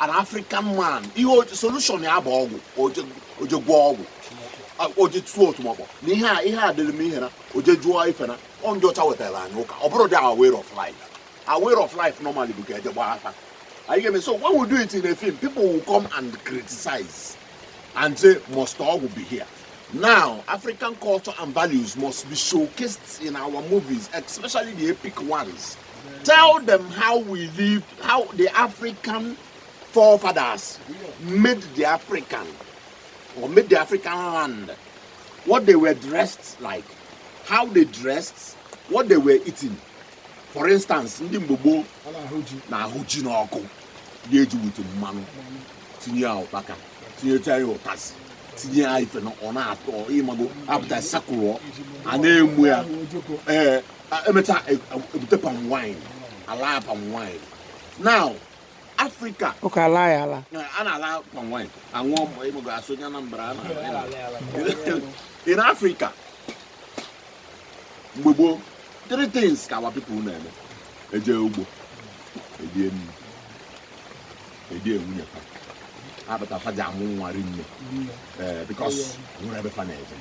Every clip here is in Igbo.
an african man ihe solution ya bụ ọgwụ o je gwọọ ọgwụ o je tụọ otumọkpọ na ihe a ihe a dịrị m ihe na o je jụọ ife na ọ ndị ọcha wetara anyị ụka ọ bụrọdị our way of life our way of life normally bụ ka e je gbaa afa are you getting me so when we do it in a film people will come and criticize and say must ọgwụ be here now african culture and values must be showcased in our movies especially the epic ones Tell them how we lived, how the African forefathers made the African or made the African land, what they were dressed like, how they dressed, what they were eating. For instance, ndị mgbe gboo na-ahụ ji n'ọkụ ga-eji with mmanụ tinye ya ụkpaka tinyeta ya ụtazị tinye ya ife na ọ na-atọ ịmago apụta sakụrụọ a na-emu ya ee emechaa e, e, ebute palm wine ala palm wine now africa ụka ala ya ala a na-ala palm wine aṅụọ mgbe ịmụgo asụ onye anambra in africa mgbe gboo three things ka our people na-eme eje ugbo erie nri edie nwunye fa abata fa ji amụ nwa rinne ee eh, because enwerọ ebe fa na-eje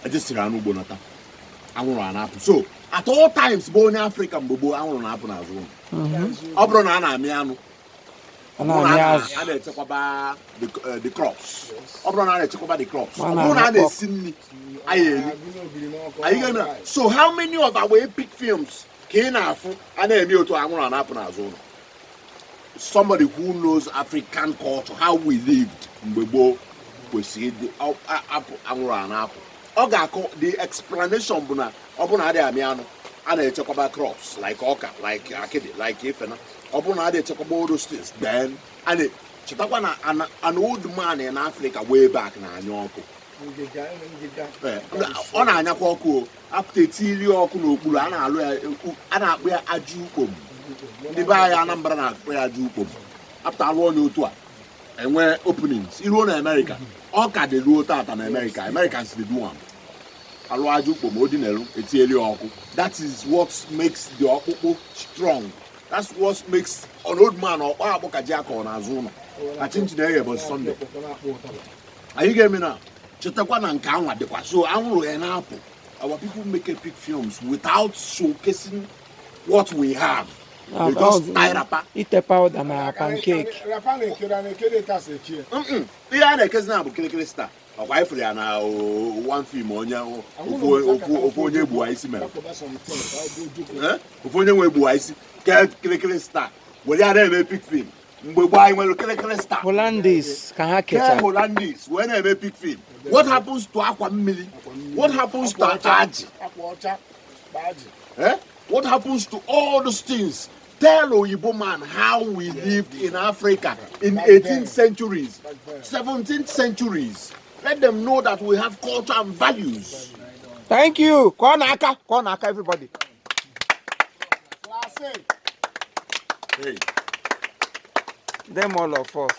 ejesiri anụ ugbo nata anwụrụ a na-apụ so at all times be onye afrịka mgbe gboo anwụrụ na-apụ n'azụ ụlọ mhm. ọ bụrụ na a na-amị anụ a na-echekwaba eh, the crops ọ bụrụ na a na-echekwaba the crops ọ bụrụ na a na-esi nri anyị eri are you getting me so how many of our epic films ka ị na-afụ a na-eme otu anwụrụ a na-apụ n'azụ ụlọ somebody who knows African culture how we lived mgbe gboo kwesịrị ịdị afụ anwụrụ a na-apụ ọ ga-akọ the explanation bụ na ọ bụrụ na adịghị amị anụ a na-echekwaba crops like ọka like akịdị like ifena ọ bụrụ na adịghị echekwaba all those things then chetakwa na an old man in Africa way back na-anya ọkụ ọ na-anyakwa ọkụ o apụta etiri ọkụ n'okpuru a na-alụ ya a na-akpọ ya ajụ ukpom ndị be anyị Anambra na-akpọ ya ajụ ukpom apụta alụọ ya otu a enwe openings iruo na Amerịka ọ ka dị ruo tata na Amerịka Americans dey do am alụ ajụ ukpom o dinelu etinyeli ọkụ that is what makes the ọkpụkpụ strong that's what makes an old man ọkpa akpụ ka ji akọ n'azụ ụlọ ka chinchi na-eghe bụ Sunday are you getting me now chetakwa na nke anwa dịkwa so anwụrụ ya na-apụ our people make epic films without showcasing what we have ah, we just oh, tie wrapper etee powder na pancake ihe a na-ekezi now bụ kirikiri star ọkwa anyị fụrụ ya na one film onye ofu onye gbuwa isi mere ofu onye nwe gbuwa isi ke kirikiri star were ya na-eme epic film mgbe gboo anyị nwere kirikiri star Hollandis ka ha kee kecha holandis wee na-eme epic film what happens to akwa mmiri what happens to ajị akwa ọcha na ajị Eh? What happens to all those things? Tell Oyibo man how we lived in Africa in 18th centuries, 17th centuries. Let them know that we have culture and values. thank you ka ọ na-aka ka ọ na-aka everybody them all of us.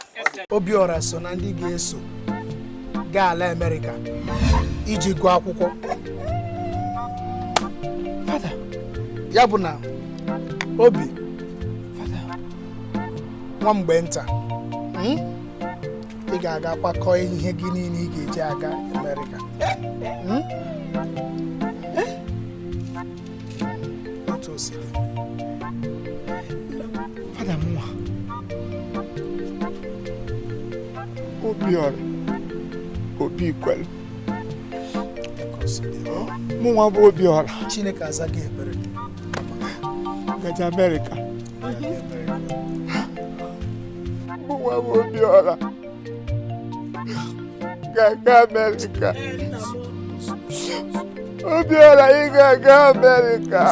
Obiora so na ndị ga-eso gaa ala Amerịka iji gụọ akwụkwọ. Fada, ya bụ na Obi, Fada, nwa mgbe nta. Hmm? ị ga-aga kwakọọ ihe gị niile ị ga-eji aga Amerịka hmm? eh? otu o siri fada mụnwa Obiọra Obikwelu mụnwa bụ Obiọra Chineke azaa gị ekpere ga-eje Amerịka mụnwa bụ Obiọra ga-aga amerịka Obiọra ị ga-aga amerịka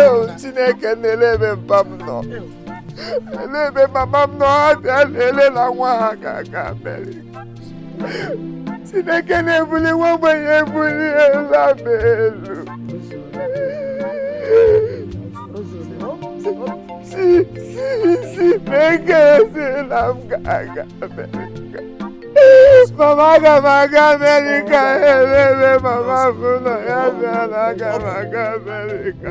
eo chineke nna elee ebe mpa m nọ elee ebe mama m nọ ha bịa na-ele na nwa ha ga-aga amerịka Chineke na-ebuli nwa ogbenye ebuliela m elu Chi Chi Chineke sị na m ga-aga Amerịka mama aga m aga Amerịka elee ebe mama m nọ ya bịa na aga m aga Amerịka